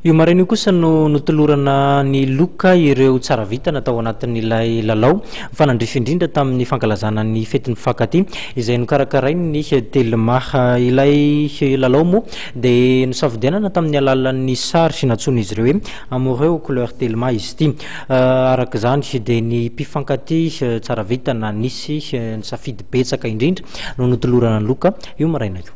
Io maraina io kosa no notolorana an'i Loka ireo tsara vita natao ao anatin'ilay lalao mifanandrify indrindra tamin'ny fankalazana ny fetin'ny mpifankatia izay nokarakarain'ny Telma. Ilay lalao moa dia nosafidianana tamin'ny alalan'ny sary nantsoin'izy ireo hoe Amoureux aux couleurs Telma izy ity. Araka izany dia ny mpifankatia tsara vita na nisy ny safidy betsaka indrindra no notolorana an'i Loka io maraina io.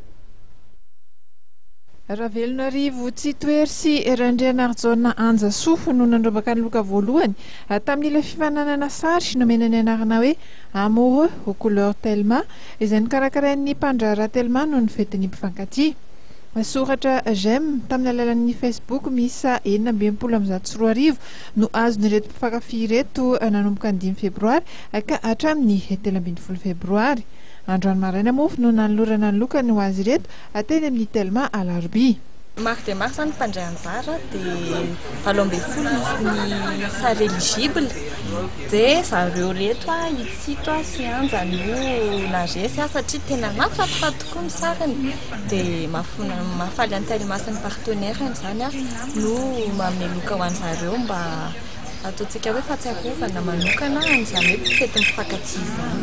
Ravelonarivo Tsitohery sy Randrianarijaona Anjasoa no nandrombaka ny loka voalohany tamin'ilay fifaninanana sary nomena ny anarana hoe Amoureux aux couleurs Telma izay nokarakarain'ny mpandraharaha Telma noho ny fetin'ny mpifankatia. Soratra j'aime tamin'ny alalan'ny Facebook miisa enina amby enimpolo amby zato sy roa arivo no azon'ireto mpifankafy ireto nanomboka ny dimy febroary ka hatramin'ny telo ambin'ny folo febroary. Androany maraina moa no nanolorana ny lokany ho azy ireto Ateny amin'ny Telma alarobia. Maro dia maro izany ny mpandray anjara dia valo ambin'ny folo ny sary eligible dia zareo reto Itsito sy Hanja no naresy satria tena mahafatofat tokoa ny sariny dia mahafaly an'i Telma sy ny partenaire-ny izany no mameloka ho an'i zareo mba ataontsika hoe fahatsiarovana manokana an'izany hoe fety mifankatia izany.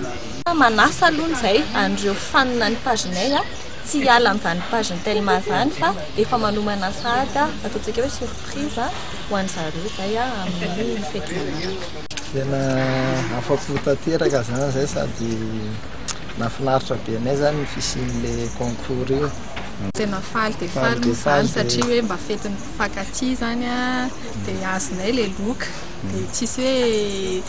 Manasa aloha izay an'ireo fanina ny pagenay a, tsy hiala amin'izany pageny telma izany fa efa manomana sahady ataontsika hoe surprise ho an'ny zareo izay amin'ny fety manaraka. Tena afa-po tanteraka zany zay sady nahafinaritra be anay zany ny fisian'le concours io. Tena faly dia faly moa izany satria hoe mba fetin'ny mpifankatia izany dia azonay ilay loka dia tsisy hoe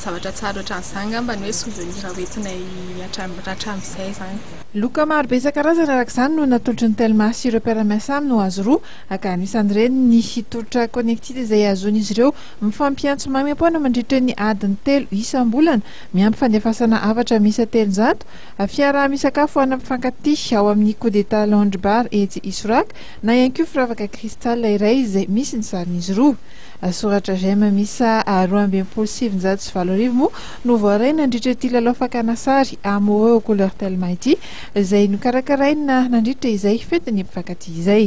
Zavatra tsara ohatran'izany angamba no hoe souvenirs hoentinay hatramin'izay izany. Loka maro be isan-karazany araka izany no natolotry ny Telma sy ireo mpiara-miasa aminy ho azy roa, ka anisan'ireny ny tolotra Connected izay ahazoan'izy ireo mifampiantso maimaim-poana mandritra ny adiny telo isam-bolana, miampy fandefasana hafatra miisa telonjato, fiaraha-misakafo ana mpifankatia ao amin'ny Coup d'Etat Lounge Bar etsy Isoraka, na ihany koa firavaka Crystal iray izay misy ny sarin'izy roa. Soratra j'aime miisa roa amby enimpolo sy sivinjato sy valo arivo moa no voaray nandritra ity lalao fakana sary Amoureux aux couleurs tellement ity, izay nokarakaraina nandritra izay fetin'ny mpifankatia izay.